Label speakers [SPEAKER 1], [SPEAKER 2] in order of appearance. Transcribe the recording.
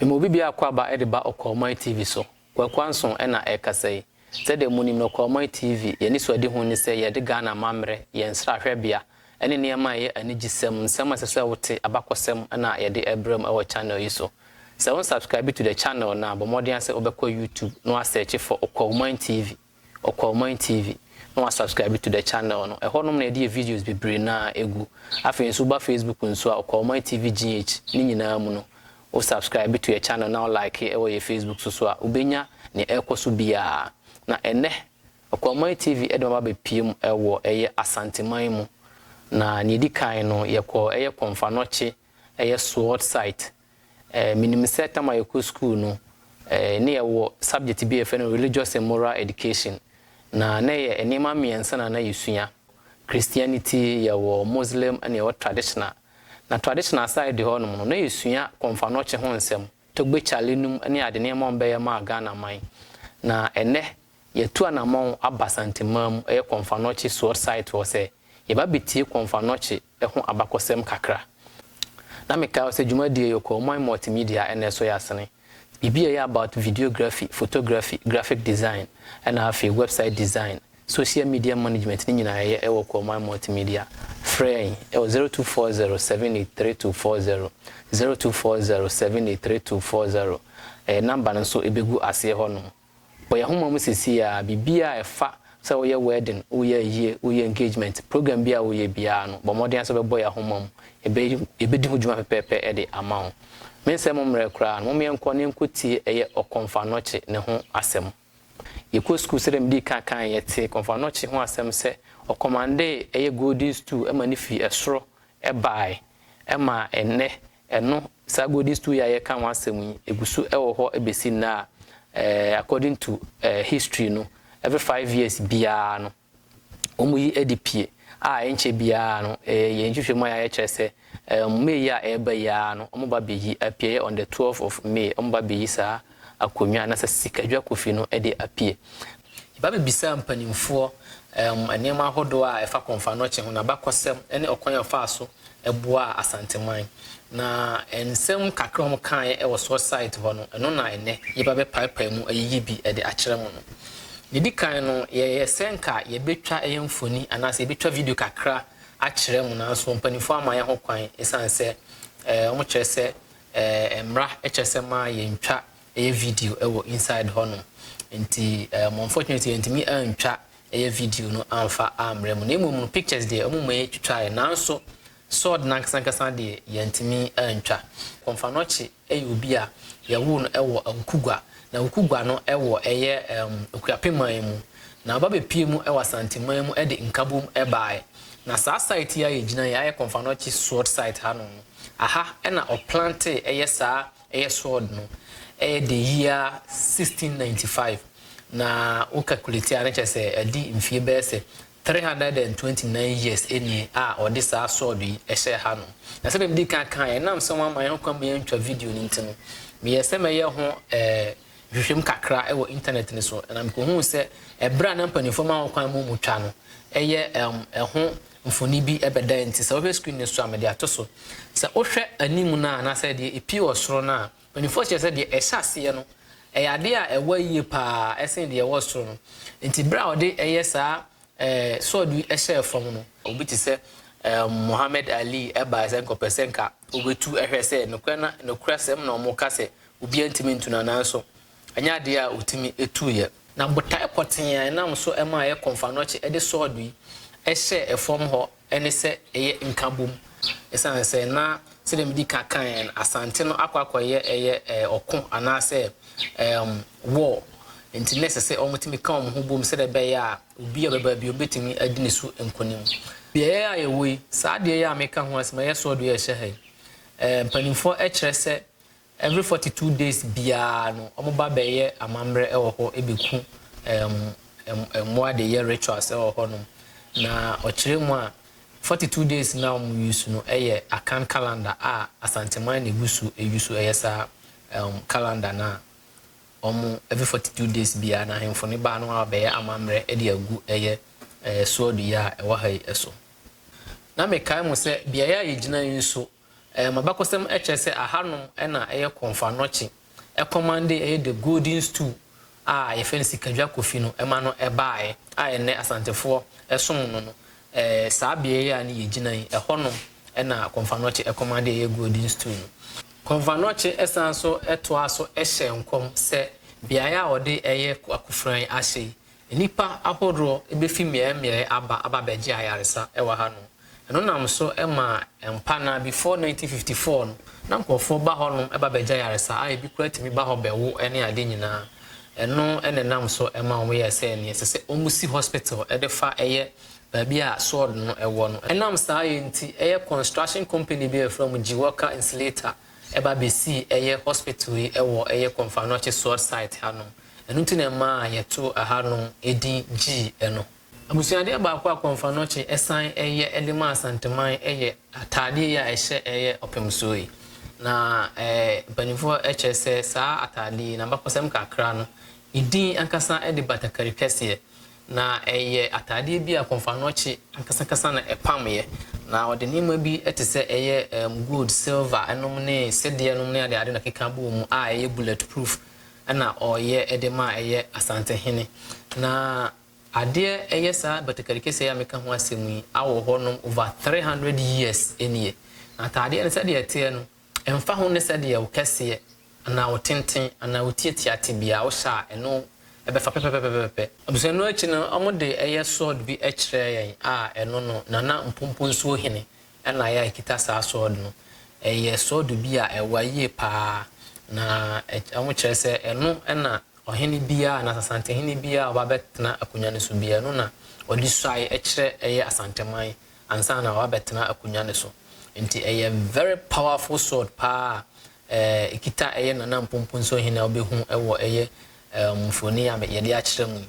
[SPEAKER 1] Mema obi biara akwaaba de ba Ɔkwawman TV so. Kwaku Anson na ɛrekasa yi. Sɛdeɛ monim no, Ɔkwawman TV, yɛn anisoadehu ne sɛ yɛde Ghana amammerɛ, yɛn nsrahwɛbea, ne nneɛma a ɛyɛ anigyesɛm, nsɛm a ɛsɛ sɛ wote, abakɔsɛm na yɛde rebrɛ mo wɔ channel yi so. Sɛ wo nsubscribe to the channel no a, bɔ mmɔden ara sɛ wobɛkɔ YouTube na woasɛɛkye for Ɔkwawman TV. Ɔkɔ Ɔman TV na wa subscribe to the channel no ɛhɔ nom na yɛde yɛ videos bebree no ara ɛgu. Afei nso woba Facebook nso a Ɔkɔ Ɔman TV GH ne nyinaa mu no wo subscribe to yɛ channel na wo like ɛwɔ yɛ Facebook so so a wobɛnya nea ɛrekɔ so biara. Na ɛnnɛ Ɔkɔ Ɔman TV de mo aba abɛpue mu ɛwɔ ɛyɛ Asanteman mu na nea ɛdi kan no yɛkɔ ɛyɛ Kɔmfanɔkye ɛyɛ Sword site Eh, menim sɛ tam a yɛkɔ sukuu no, eh, ne yɛwɔ subject bi a yɛfrɛ no Religious and Moral Education. Na na ɛyɛ nneɛma mmiɛnsa na na yɛsua. Christianity, yɛwɔ Muslim, ɛna yɛwɔ Traditional. Na Traditional side hɔ nom no, na yɛsua Kɔmfanɔkye ho nsɛm, Togbe Chale nom ne ade nneɛma a wɔbɛyɛ maa Ghana man. Na ɛnnɛ, yɛatu anamɔn aba Santemaa mu, ɛyɛ Kɔmfanɔkye Sword Site hɔ sɛ. Yɛba bɛtie Kɔmfannɔkye ho abakɔsɛm kakra. Na mekae hɔ sɛ dwumadie yi ɔkɔɔ Moi Multimedia ɛna ɛso yɛ asene. Biribi a ɛyɛ about videography, photography, graphic design ɛna afei website design, social media management ne nyinaa yɛyɛ ɛwɔ ɔkɔɔ Moi Multimedia. Frɛ yɛn ɛwɔ zero two four zero seven eight three two four zero, zero two four zero seven eight three two four zero. Ɛyɛ number no nso ɛbɛgu aseɛ hɔ nom. Wɔ yɛn homa mu sesei ara, biribiara a ɛfa sɛ woyɛ wɛɛden, woyɛ ayie, woyɛ engagement, program biara a woyɛ biara no, bɔ mmɔden ara sɛ wobɛbɔ yɛn homa mu. Yɛbɛyɛ, yɛbɛdi ho dwuma pɛpɛɛpɛ de ama wo. Mensɛe mo mmerɛ koraa no, momma yɛnkɔ na yɛnkɔtie ɛyɛ Ɔkɔmfannɔkye ne ho asɛm. Yɛkɔ sukuu sɛdeɛ medii kan kaeɛ, yɛtee Kɔmfannɔkye ho asɛm sɛ ɔkɔmandee ɛyɛ golden stool ma no firi ɛsoro baeɛ ma ɛnnɛ Ɛno, saa Golden Stool yi a yɛreka ho asɛm yi, ɛgu so wɔ hɔ bɛsi nnɛ a, according to history no, every five years biara no, wɔyi de pie a ɛnkyɛ biara no, yɛn nhwehwɛmu a yɛayɛ kyerɛ sɛ May a ɛreba yi ara no, wɔba bɛyi, apieyɛ on the twelfth of May, wɔba bɛyi saa akonwa anasɛ sika dwa kofi no de apue. Yɛba bɛbisa mpanimfoɔ nneɛma ahodoɔ a ɛfa kɔmfanoɔkye ho, n'abakɔsɛm ne ɔkwan a ɔfaa so boaa Asanteman. Na nsɛm kakra a wɔn kaeɛ wɔ source site hɔ no, ɛno na ɛnnɛ yɛba bɛpaepae mu ayiyi bi de akyerɛ mo no. Deɛ ɛdi kan no, yɛyɛ sɛ nka yɛbɛtwa ɛyɛ mfoni anaasɛ yɛbɛtwa video kakra akyerɛ mo nanso mpanimfoɔ amma yɛn ho kwan ɛsiane sɛ wɔkyerɛ sɛ Eh mmra kyɛ sɛ ma yɛn twa ɛyɛ video wɔ inside hɔ nom nti eh mo unfortunately yɛn ntumi antwa ɛyɛ video no amfa ammrɛ mo na mmom no pictures deɛ ɔmo mɔ yɛ twitwa yɛ nanso sword no ankasa ankasa deɛ yɛn ntumi antwa Komfanochi ɛyɛ obi a yɛwoo no ɛwɔ Awukugwa na Awukugwa no ɛwɔ ɛyɛ ehm Akuape man mu na ɔba bɛpie mu ɛwɔ Asante man mu ɛde Nkabom ɛbaa yɛ na saa site yi a yɛgyina yi ayɛ Komfanochi sword site ha nom no. Aha na ɔplantee ɛyɛ saa ɛyɛ sword no ɛyɛ the year 1695 na wo calculate a na kyerɛ sɛ adi mfie bɛyɛ sɛ 329 years nie a ɔde saa sword yi ɛhyɛɛ ha nom. Na sɛdeɛ medi kan kaeɛ ɛnam sɛ wɔamma yɛn ho kwan ma yɛantwa video no nti no meyɛɛ sɛ mɛyɛ ho nhwehwɛmu kakra wɔ internet no so na mekɔhuu sɛ ɛberɛ a na mpanimfoɔ ma ho kwan ma wɔtwa no ɛyɛ ɛho mfoni bi bɛda nti, sɛ wohwɛ screen no so a, mede ato so. Sɛ wohwɛ anim no a, anaasɛ deɛ ɛpue wɔ soro no a, mpanimfoɔ kyerɛ sɛ deɛ ɛhyɛ aseɛ no, ɛyɛ adeɛ a ɛwa yie pa ara sene deɛ ɛwɔ soro no. Nti berɛ a ɔde ɛyɛ saa ɛɛ sword yi hyɛɛ fam no, obi te sɛ Muhammad Ali baeɛ sɛ anka ɔpɛ sɛ anka ɔbɛtu hwɛ sɛ nokorɛ na nokorɛsɛm na wɔka sɛ obiara ntumi ntu no anaa nso Ɛnyɛ adeɛ a ɔtumi tu yɛ. Na botae pɔtee a ɛnam so ma ayɛ kɔmfannɔkye de sɔɔdo yi hyɛɛ fam hɔ ne sɛ ɛyɛ nkabom. Ɛsiane sɛ na sɛdeɛ medi ka kaeɛ no, Asante no akɔ akɔyɛ ɛyɛ ɔko anaasɛ ɛɛm war nti na ɛsɛ sɛ wɔtumi ka wɔn ho bom sɛdeɛ ɛbɛyɛ a obi a ɔbɛba biom bɛtumi adi ne so nkonim. Beaeɛ a yɛwɔ yi, saa adeɛ yi a meka ho asɛm, ɛyɛ sɔɔdo yi a ɛhyɛ ha yi, ɛɛ mpanimfoɔ kyerɛ sɛ Every forty two days biara no ɔmo ba bɛyɛ amammerɛ ɛwɔ hɔ ɛbɛku mmoa de yɛ rituals ɛwɔ hɔ nom na ɔkyerɛ mu a forty two days no a ɔmo use no ɛyɛ Akan calendar a Asanteman na ɛgu so ɛyu so ɛyɛ saa calendar no a ɔmo every forty two days biara no ahemfo no ba no a ɔbɛyɛ amammerɛ ɛde agu ɛyɛ soɔ dua a ɛwɔ ha yi ɛso na mekae mo sɛ beaeɛ a yɛgyina yi nso M'abakɔsɛm kyerɛ sɛ ahanom na ɛyɛ Kɔmfannɔkye kɔmande, ɛyɛ The Golden Stool a yɛfrɛ no Sikadwa Kofi no ma no baeɛ a ɛnnɛ Asantefoɔ som no no. Saa beaɛ yi a ne yɛgyina yi, ɛhɔnom na Kɔmfannɔkye kɔmande a ɛyɛ Golden Stool no. Kɔmfannɔkye san so toa so hyɛ nkɔm sɛ beaɛ a wɔde ɛyɛ Akufuran ahyɛ yi, Nnipa ahoroɔ bɛfi mmeaɛmmeaɛ aba aba abɛgye ayaresa wɔ ha nom. Ɛno nam so maa mpa no ara before 1954 no, na nkorɔfoɔ ba hɔ nom ba bɛgye ayaresa a ɛbi koraa tumi ba hɔ bɛwo ne adeɛ nyinaa. Ɛno na ɛnam so maa wɔn yɛɛ sɛ nea ɛsɛ sɛ wɔn si hospital de fa yɛ baabi a sword no wɔ no. Ɛnam saa yɛ nti, ɛyɛ construction company bi a yɛfrɛ wɔn Giwalka Insulator ba bɛsii ɛyɛ hospital yi wɔ ɛyɛ Komfanochi sword site ha nom. Ɛno nti na ɛmaa yɛtoo ɛha no edin Gyii ɛno. Abusuadeɛ baako a Kɔmfranɔkye san yɛ de ma Asanteman yɛ ataadeɛ yi a ɛhyɛ yɛ ɔpemsoɔ yi. Na mpaninfoɔ kyerɛ sɛ saa ataadeɛ yi, n'abakɔsɛm kakra no, ne din ankasa de batakari kɛseɛ. Na ɛyɛ ataadeɛ bi a Kɔmfranɔkye ankasa ankasa na ɛpameɛ. Na ɔde nneɛma bi te sɛ ɛyɛ gold, silver nom ne sedeɛ nom ne adeade na ɛkeka bɔɔ mu a ɛyɛ bullet proof. na ɔyɛ de ma a ɛyɛ Asantehene. Na adeɛ ɛyɛ saa batakari keseɛ yi a meka ho asɛm yi awɔ hɔ nom over three hundred years nie. Na ataadeɛ no sɛdeɛ ɛteɛ no ɛmfa ho ne sɛdeɛ wo kɛseɛ anaa wo tenten anaa wo tiatia te biara wohyɛ a ɛno ɛbɛfa pɛpɛpɛpɛpɛpɛ. Abusua ɛno akyi no wɔde ɛyɛ sword bi ɛkyerɛɛ yɛn a ɛno no Nana Mponponsuo Hene Ɛna yɛ a ɛkita saa sword no, ɛyɛ sword bi a ɛwa yie paa, na wɔkyerɛ sɛ ɛno na ɔhene biara anaa Asantehene biara a ɔba bɛtena akonnwa no so biara, ɛno na ɔde suae kyerɛ ɛyɛ Asanteman ansa na waba bɛtena akonnwa no so. Nti ɛyɛ very powerful sword paa a ɛkita ɛyɛ Nana Mponponso Hene a wobɛhu wɔ ɛyɛ mfoni a yɛde akyerɛ mu yi.